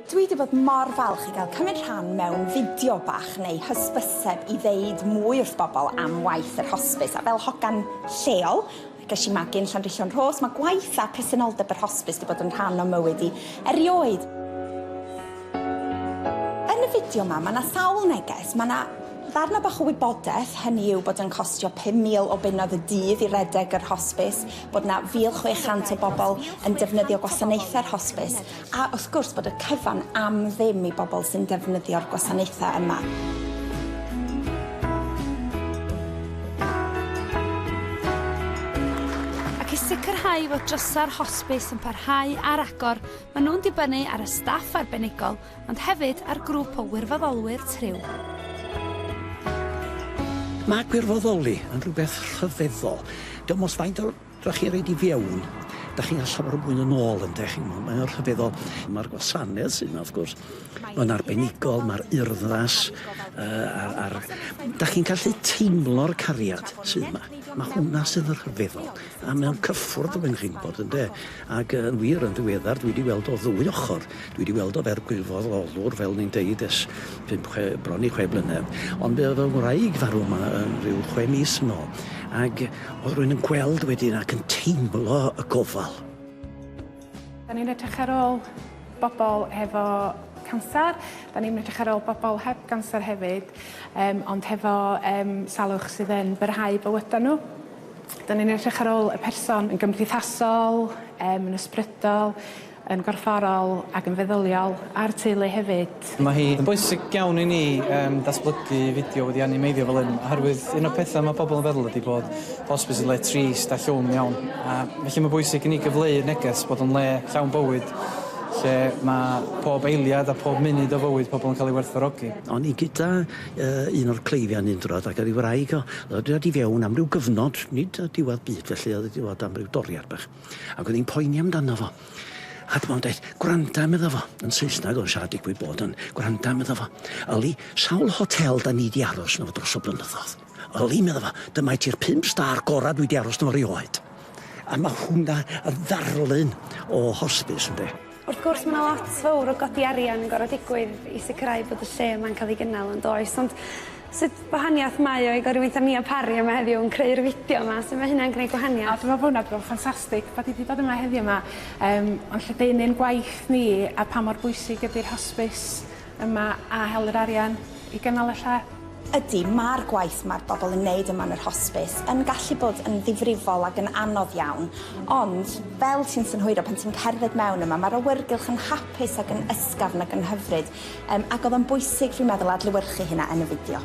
Dwi di bod mor falch i gael cymryd rhan mewn fideo bach neu hysbyseb i ddeud mwy wrth bobl am waith yr hosbis a fel hogan lleol ges i magu yn Llanrhillion Rhos mae gwaith a presenoldeb yr hosbis di bod yn rhan o mywyd i erioed. Yn y fideo ma mae na sawl neges, mae na ddarna bach o wybodeth, hynny yw bod yn costio 5000 o bunnoedd y dydd i redeg yr hosbis, bod 'na 1,600 o bobl yn defnyddio gwasanaethau'r hosbis, a wrth gwrs bod y cyfan am ddim i bobl sy'n defnyddio'r gwasanaethau yma. Ac i sicrhau fod drysau'r hosbis yn parhau ar agor, maen nhw'n dibynnu ar y staff arbenigol ond hefyd ar grŵp o wirfoddolwyr Triw. Mae gwirfoddoli yn rhywbeth rhyfeddol. Dim ots faint o... dach chi'n rhoid i fewn, dach chi'n cael llawer mwy yn ôl ynde, chi'n gwybod, mae o'n rhyfeddol. Mae'r gwasanaeth sydd yna wrth gwrs yn arbenigol, mae'r urddas yy a a'r... dach chi'n gallu teimlo'r cariad sydd yma. Mae hwnna sydd yn rhyfeddol. A mae o'n cyffwrdd efo Mhenrhynford ynde? Ac yy yn wir yn ddiweddar dwi 'di weld o ddwy ochor dwi 'di weld o fer gwirfoddolwr fel o'n i'n deud ers pump chwe bron i chwe blynedd ond fe o'dd fy ngwraig farw 'ma yn ryw chwe mis yn ôl ag o'dd rywun yn gweld wedyn ac yn teimlo y gofal. 'Dan ni'n edrych ar ôl bobol hefo canser 'dan ni'n edrych ar ôl bobol heb ganser hefyd yym ond hefo yym salwch sydd yn byrhau bywyda n'w. Dan ni'n edrych ar ôl y person yn gymdeithasol, yym yn ysbrydol, yn gorfforol ac yn feddyliol, a'r teulu hefyd. Mae hi yn bwysig iawn i ni yym datblygu fideo wedi animeiddio fel hyn oherwydd un o'r pethau mae pobl yn feddwl ydi bod hosbis yn le trist a llwm iawn a felly mae'n bwysig i ni gyfleu'r neges bod o'n le llawn bywyd lle mae pob eiliad a pob munud o fywyd pobl yn cael ei werthfawrogi. O'n ni gyda yy un o'r cleifion un diwrnod ac o'dd 'i wraig o o'dd o 'di dod i fewn am ryw gyfnod, nid yy diwedd byd felly o'dd 'i 'di bod am ryw doriad bach ac o'dd 'i'n poeni amdano fo a dyma fo'n deud gwranda medda fo yn Saesneg o'dd o'n siarad digwydd bod yn gwranda medda fo yli sawl hotel 'dan ni 'di aros yno fo dros y blynyddodd? Yli, medda fo, dyma i ti'r pump star gora dwi di aros 'na fo rioed. A ma hwnna yn ddarlun o hosbis, ynde? Wrth gwrs ma na lot fowr o godi arian yn goro digwydd i sicrhau bod y lle yma'n ca'l ei gynnal yn does ond sut wahaniath mae o i godi weitha Nia Parry yma heddiw yn creu'r fideo yma su ma hynna'n gneud gwahaniath? A dwi me'wl bo hwnna bro ffantastig bo di di bod yma heddiw ma yym o'n lledaenu'n gwaith ni a pa mor bwysig ydi'r hosbis yma a hel yr arian i gynnal y lle. Ydy, mae'r gwaith mae'r bobl yn neud yma yn yr hosbis yn gallu bod yn ddifrifol ac yn anodd iawn, ond fel ti'n synhwyro pan ti'n cerdded mewn yma mae'r awyrgylch yn hapus ac yn ysgafn ac yn hyfryd yym ac o'dd o'n bwysig fi'n meddwl adlewyrchu hynna yn y fideo.